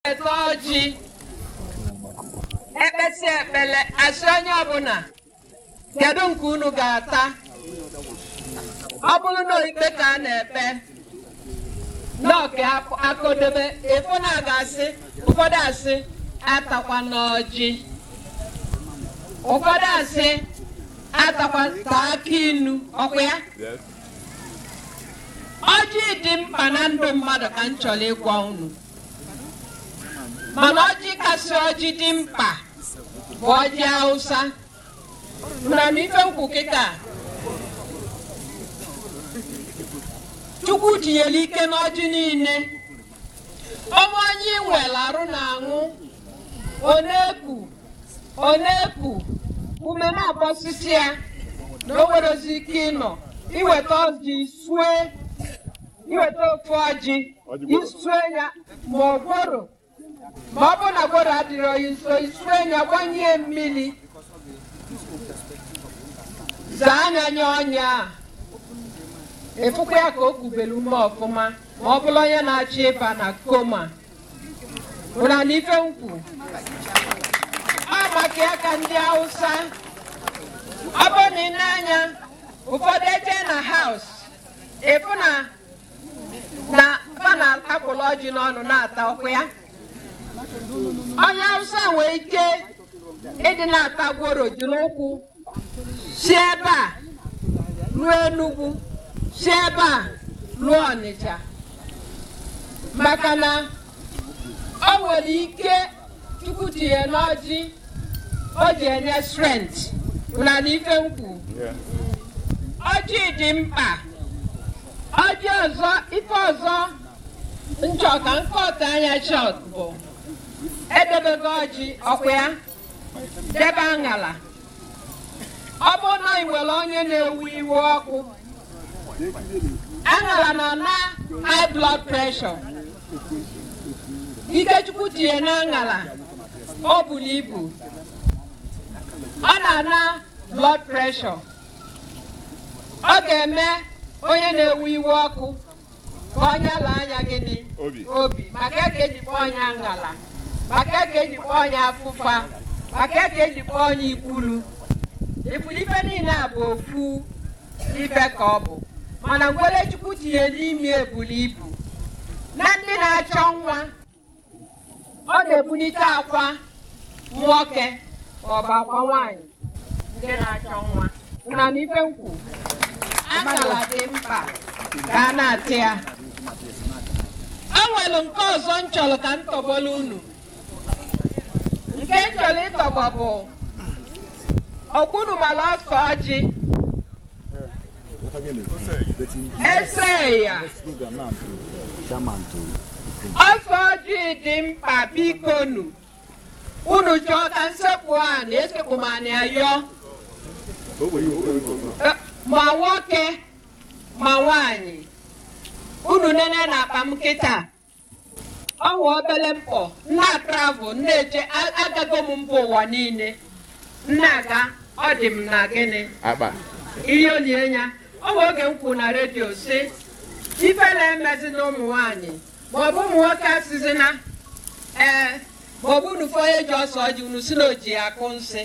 ete ọjị ekpesi ekpele asị onye ọbụla kedu nke unu ga-ata ọ bụrụ na ikpe ka a na-ekpe n'ọka akodebe ịfụ na a ga-asị ụfọdụ asị atakwana ọjị ụfọdụ asị atakwa taa akị inu ọkwa ya ọjị dị mkpa na ndụ mmadụ ka m chọrọ ịgwa unu mana ọjị kasị ọjị dị mkpa bụ ọjị Hausa unu anụ ife nkwu kịta Chukwu tinyere ike n'ọjị niile ọ bụ onye nwere arụ na-anwụ ọ na-eku ọ na-eku ume na-agbasisi ya na o nwerozi ike ịnọ iweta ọjị sue iweta ofu ọjị isue ya ma ọ gworo ma ọ bụ na gworo adịrọ gị nso isue ya gbanye mmiri zaa nya nye onye a ịfụkwa ya ka o kubere ume ọfụma ma ọ bụrụ onye na-achọ ịba na koma unu anụ ife nkwu ọ maka ya ka ndị Hausa ọ bụ na i nee anya ụfọdụ eje na haus ịfụ na na fa na-akpụlụ ọjị n'ọnụ na-ata ọkwa ya onye awụsa nwee ike ịdị na-ata gworo ji n'ụkwụ si ebe a ruo enugwu si ebe a ruo ọnịcha maka na o nwere ike chukwu tinye n'ọjị o ji enye strength unu anụ ife nkwu ọjị dị mkpa ọjị ọzọ ife ọzọ nchọ ka nkọta nya short bụ edebego ọjị ọkwa ya debe aṅala ọ bụrụ na ị nwere onye na-ewu iwe ọkụ aṅala na-ana high blood pressure ike chukwu tinye na aṅara o buru ibu ọ na-ana blood pressure ọ ga-eme onye na-ewu iwe ọkụ ka onye ala anya gịnị Obi. obi maka ya ka eji kpọọ nya aṅala maka ya ka eji kpọọ nya afụfa maka ya ka eji kpọọ nya ikwulu ifuru ife niile a bụ ofu ife ka ọ bụ mana ngwa ọlụ chukwu tinye n'ime ya bulu ibu na ndị na-achọ nwa ọ na-ebulite akwa nwoke ma ọ bụ akwa nwaanyị ndị na-achọ nwa na-anụ ife m kwu akala dị mkpa ka a na-ata ya o nwere nke ọzọ m chọrọ ka m tọgbọrọ unu nke m chọrọ ịtọgbọ bụ ọ kwa unu mara ọsọ ọjị Eseya ọsọ ọjị dị mkpa bikonu unu chọọ ka m sekpu ana esekpu m ana ayọ Eh, ma nwoke ma nwanyị unu nene n'akpa m kịta o nwe obere mkpọ m na-atravel na-eje a- agago m mba ụwa niile m na-aga ọ dị m na gịnị akpa ihe olie ya ọ bụ oge m kwuru na redio sị ifele emezina ụmụ nwaanyị maọbụ ụmụ nwoke asịzina ee maọbụ unu fụ onye ji ọsọ ọjị unu sị na o ji akọ nsị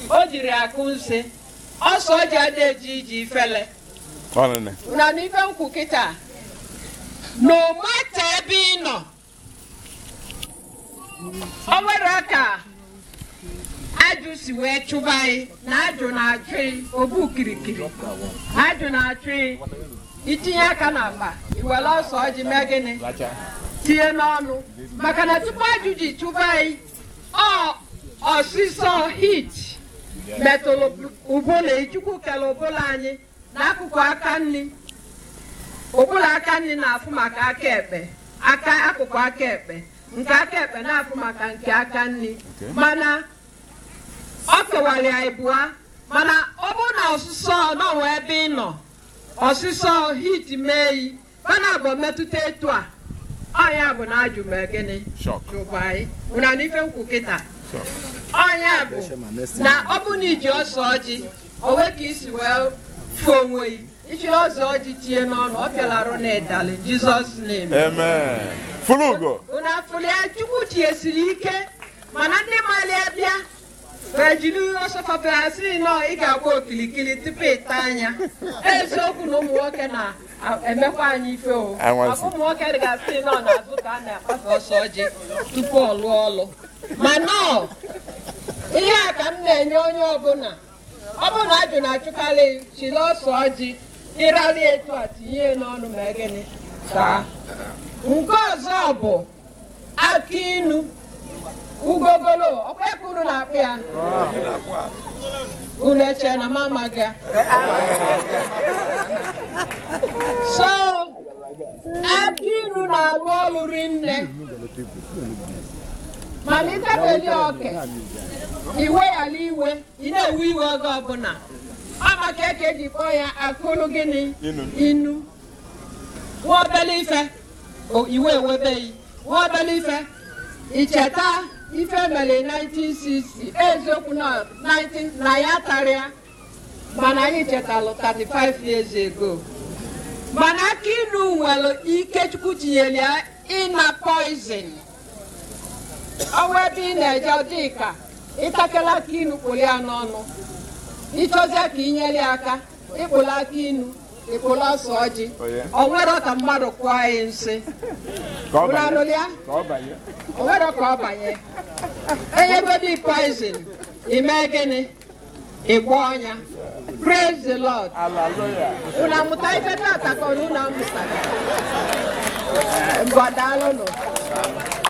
o jiri akọ nsị ọsọ ọjị adịghị eji iji ifele unu na-anụ ife m kwu kịta no matter ebe ị nọ o nwere ka ajụ si wee chụba ị na ajụ na-achụ ị ọ bụ kirikiri ajụ na-achụ ị i tinye aka n'akpa i were ọsọ ọjị mee gịnị tinye n'ọnụ maka na tupu ajụ ji chụba ị ọ ọsịsọ heat metụrụ ụbụlụ Chukwu kere ụbụlụ anyị akụkụ aka nri ụbụlụ aka nri na-afụ maka aka ekpe aka akụkụ aka ekpe nke aka ekpe na-afụ maka nke aka nri mana o kewara ya ịbụa mana ọ bụrụ na ọsụsọ nọwa ebe ị nọ ọsụsọ heat mee yi fa naabọ metụta etu a ọ nya bụ na ajụ mee gịnị Shock. chụba ị ụna anụ ife m kwu kịta Shock. ọ nya bụ na ọ bụ na i ji ọsọ ọjị o nwe ka i si wee fụ onwe gị i ji ọsọ ọjị tinye n'ọnụ ọ pịalarụ na ịdalị jizọs na-eme Amen. Fulugo. ụna afụlịa chukwu tinyesiri ike mana ndị mali abịa ma jiri ọsọkọta ha sị na ị ga-agba okilikili tupu ị taa nya eziokwu na ụmụ nwoke na-emekwa anyị ife o Anwansi. Ọ bụ ụmụ nwoke ga-asị nọ n'azụ ka a na-akpasa ọsọ ọjị tupu ọ lụọ ọlụ mana ọ ihe a ka m na-enye onye ọbụla ọ bụrụ na ajụ na-achụkarị chiri ọsọ ọjị ịrarị etu a tinye ya n'ọnụ mee gịnị taa nke ọzọ bụ akị inu ugogolo ọkwa ebe unu na-akpọ ya unu eche na m amaghị ya so akị inu na-arụ ọrụ rinne mana ịtafeli oke iwe yala iwe ị na-ewe iwe oge ọbụla ọ maka ya ka e ji kpọọ ya akụlụ gịnị inu nwa obele ife O- iwe ewebe gị nwa obele ife icheta ife mere 1960 eziokwu na 19 na ya tarịa mana anyị chetalụ 35 years ago mana akị inu nwere ike chukwu tinyere ya ịna poison o nwee ebe ị na-eje dịka ị takele akị inu kpụrụ ya n'ọnụ ị chọzie ka i nyere ya aka ị kpụlụ akị inu ị kpụlụ ose ọjị o nwerọ ka mmadụ kụọ gị nsị Ka ọ banye. Unu anụla ya? Ka ọ banye. o nwerọ ka ọ banye e nyegodi poison i mee gịnị ị gbọọ nya praise the lord Hallelujah. unu amụta ife tata ka unu amụta mgbadalụnụ